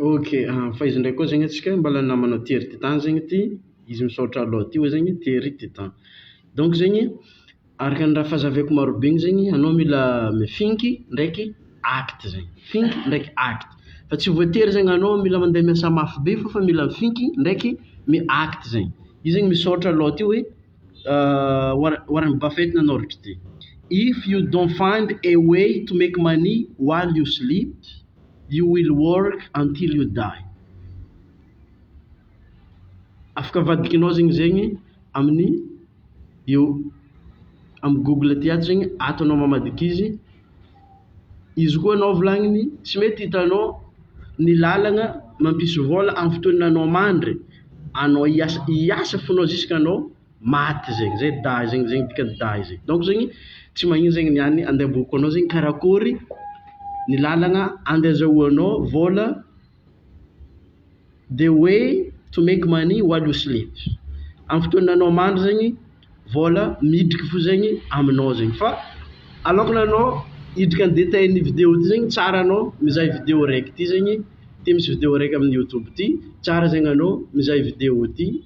Ok, fa izy ndray koa zegny atsika mbala namana Thierry Titan zegny ty, izy misaotra alou ty oe zegny Thierry Titan. Donc zegny araka ny raha fahazaviako marobe igny zegny anao mila mifinky ndraiky acte zegny, finky ndraiky acte fa tsy voatery zegny anao mila mande miasa mafy be fô fa mila mifinky ndraiky mi acte zegny, izy zegny misaotra alou ty oe Warren Warren Buffet nanoratra ty, if you don't find a way to make money while you sleep, You will work until you die. Afaka avadikinao zegny zegny amin'ny eo amin'ny google aty ato zegny ato anao mamadika izy izy koa anao volagniny tsy mety hitanao ny lalagna mampisy vôla amin'ny fotoananao mandry anao hiasa hiasa fônao ziskanao maty zegny zay dahy zegny zegny dikany dahy zegny donc zegny tsy magnino zegny ny any andavoriko anao zegny karakôry ny lalagna ande azahoanao vôla the way to make money while you sleep am fotoana anao mandry zegny vôla midriky fo zegny aminao zegny fa alôkany anao hidriky am detail ny video ty zegny tsara anao mizaha video raiky ty zegny ty misy video raiky am youtube ty tsara zegny anao mizaha video ty.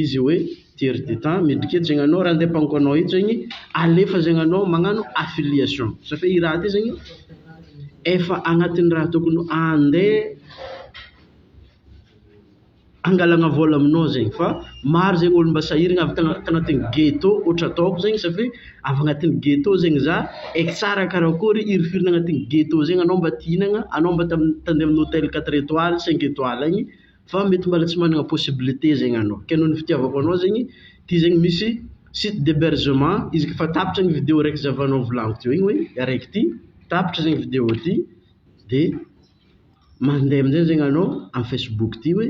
izy hoe tiers d'etat midika hoe zegny anao raha andeha ampanoko anao eto zegny alefa zegny anao magnano affiliation sa fe i raha ty zegny efa agnatin'ny raha tokony andeha angalagna vôla aminao zegny fa maro zegny olo mba sahiragna avy tagna- tagnatin'ny ghetto ohatra ataoko zegny satria avy agnatin'ny ghetto zegny za eky tsara karakôry hirifiry agnatin'ny ghetto zegny anao mba ty hihinagna anao mba tam- tandeha amin'ny hôtel quatre etoiles cinq etoiles agny Fa mety mbala tsy managna possibilité zegny anao, ke noho ny fitiavako anao zegny, ty zegny misy site d'hebergement izy ka fa tapitra ny video raiky zavanao volagno teo igny hoe araiky ty, tapitra zegny video ty de mandeha amizay zegny anao am facebook ty hoe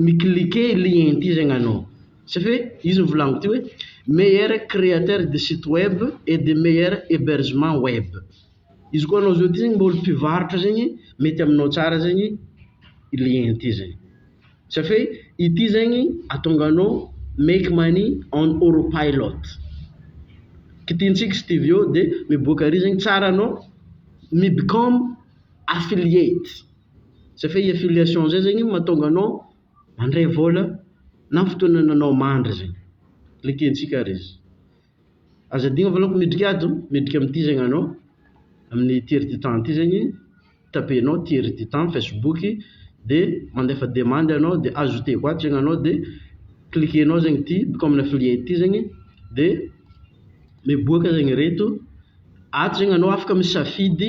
mi cliquer lien ty zegny anao, tsy fe izy mivolagno ty hoe meilleur créateur de site web et de meilleur hebergement web. Izy koa anao zao ty zegny mba olo mpivarotra zegny mety aminao tsara zegny i lien ty zegny. Safe ity zegny atonga anao make money on oro pilot. Kitintsika studio de miboaka ary zegny tsara anao mi become affiliate. Safe i affiliation zay zegny matonga anao mandray vola na fotoana anao mandry zegny. Likentsika ary izy. Aza adino fa aleoko midrika ady oh, midrika amin ity zegny anao amin ity heure du temps ity zegny, tapenao ity heure du temps facebook dia mandefa demande anao dia ajouteko ato zegny anao dia cliquenao zegny ity bouka amina filière ity zegny dia miboaka zegny ireto, ato zegny anao afaka misafidy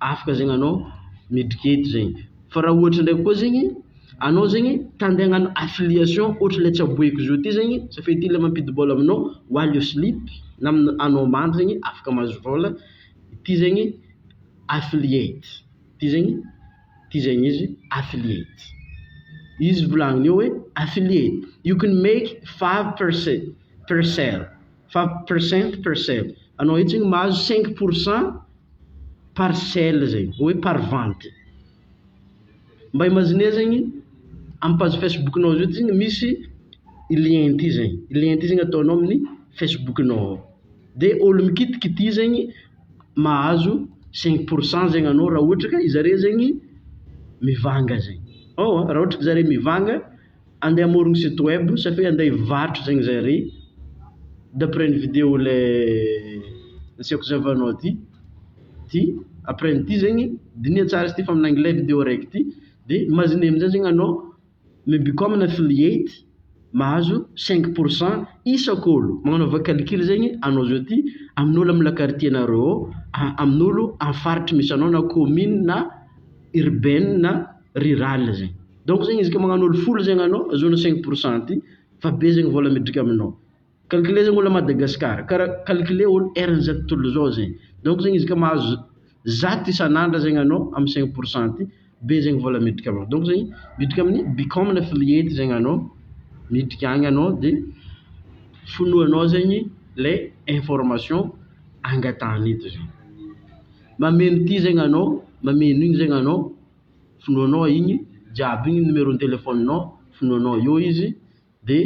afaka zegny anao miditry kety zegny fa raha ohatra ndraiky koa zegny anao zegny ta ndeha hagnano affiliation ohatra le tsaboiko zao ty zegny safidy ty le mampidi bola aminao walio slip na amina anao mandry zegny afaka mahazo vola ty zegny affiliate ty zegny ty zegny izy affiliate izy volagniny eo hoe affiliate you can make five percent per cell fa percent percent anao io tsigny mahazo cinq pour cent par sell zegny hoe par vente mba imagine zegny am page facebook nao zao tsigny misy i lien ty zegny i lien ty zegny ataonao amin'ny facebook nao ao de olo mikitiky ty zegny mahazo cinq pour cent zegny anao raha ohatra ka i zare zegny mivanga zegny ôhatra ka zare mivanga Andeha hamorogno site web sa fe andeha hivarotra zegny zare d'après ny video le nasehoko zavanao ty ty après ny ty zegny diniha tsara izy ty fa amin'ny anglais video raiky ty de imagine amizay zegny anao mi become an affiliate mahazo cinq pour cent isak'olo magnanaova calcul zegny anao zao ty amin'olo amy la quartier nareo ao a- amin'olo amy faritry misy anao na commune na urbaine na rurale zegny. Donc zegny izy ka magnano olo folo zegny anao azahoana cinq pour cent ty fa be zegny vola midriky aminao. Calculer zegny olo à Madagascar kara calculer olo eran'izato tontolo izao zegny. Donc zegny izy ka mahazo zato isan'andra zegny anao amin'ny cinq pour cent ty be zegny vola midriky aminao. Donc zegny midriky amin'ny become ny affiliate zegny anao midriky agny anao de fonoanao zegny le information angatahany eto zegny. Mameno ty zegny anao, mameno igny zegny anao. finoanao igny jiaby igny numéro téléphone nao finoanao eo izy de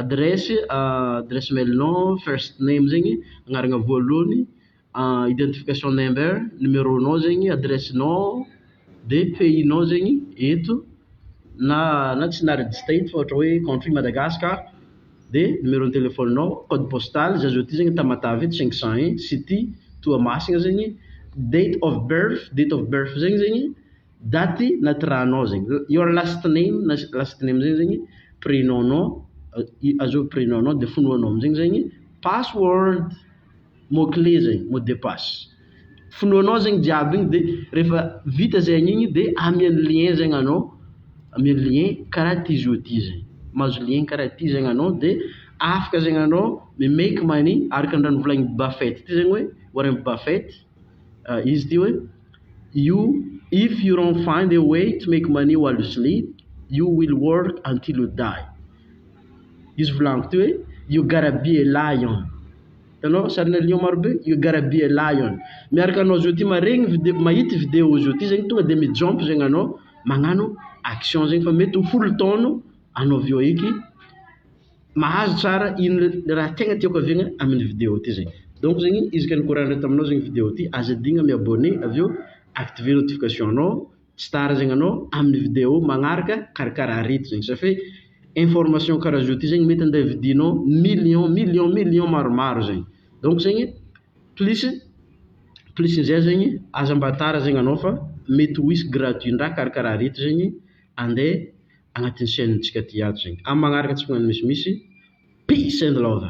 adresse adresse mail nao first name zegny agnarana voalohany identification number numéro nao zegny adresse nao de pays nao zegny eto na na tsy na register eto fa ohatra hoe country Madagascar. de numéro ny téléphone nao, code postal, za zao ty zegny Tamatave eto cinq cent un, city Toamasina zegny, date of birth, date of birth zegny zegny daty natiranao zegny, your last name na last name zegny zegny prénom nao, azovy prénom nao de fonoanao amizegny zegny password. mot clé zay, mot de passe. Finoanao zegny jiaby igny de refa vita zegny igny de amian'ny lien zegny anao, amian'ny lien karaha ty zio ty zay. Mahazo lien karaha ty zegny anao de afaka zegny anao mi make money araka ny raha novolagnin'i Buffett ty zegny hoe, Warren Buffett, izy ty hoe you if you don't find a way to make money while you sleep, you will work until you die. Izy volagno teo hoe you gotta be a lion Hitanao sarina lion maro be? You gotta be a lion Miaraka anao zao ty maregny video mahita io video io zao ty zegny tonga de mi-jump zegny anao magnano action zegny fa mety ho folo taogno anao avy eo eky mahazo tsara ino le raha tegna tiako haviagna amin'ny video ty zay donc zegny izy ka nikorandra taminao zegny video ty aza adigno mi-abonner avy eo activer notification-nao tsy tara zegny anao amin'ny video magnaraka karakara arety zegny safe information karaha zao ty zegny mety andeha vidinao million million million maromaro zegny donc zegny plus plus an'izay zegny aza mba tara zegny anao fa mety ho hisy gratuit ndraha karakara arety zegny andeha agnatin'ny chaine ntsika ty ato zegny amin'ny magnaraka tsy magnano misimisy peace and love.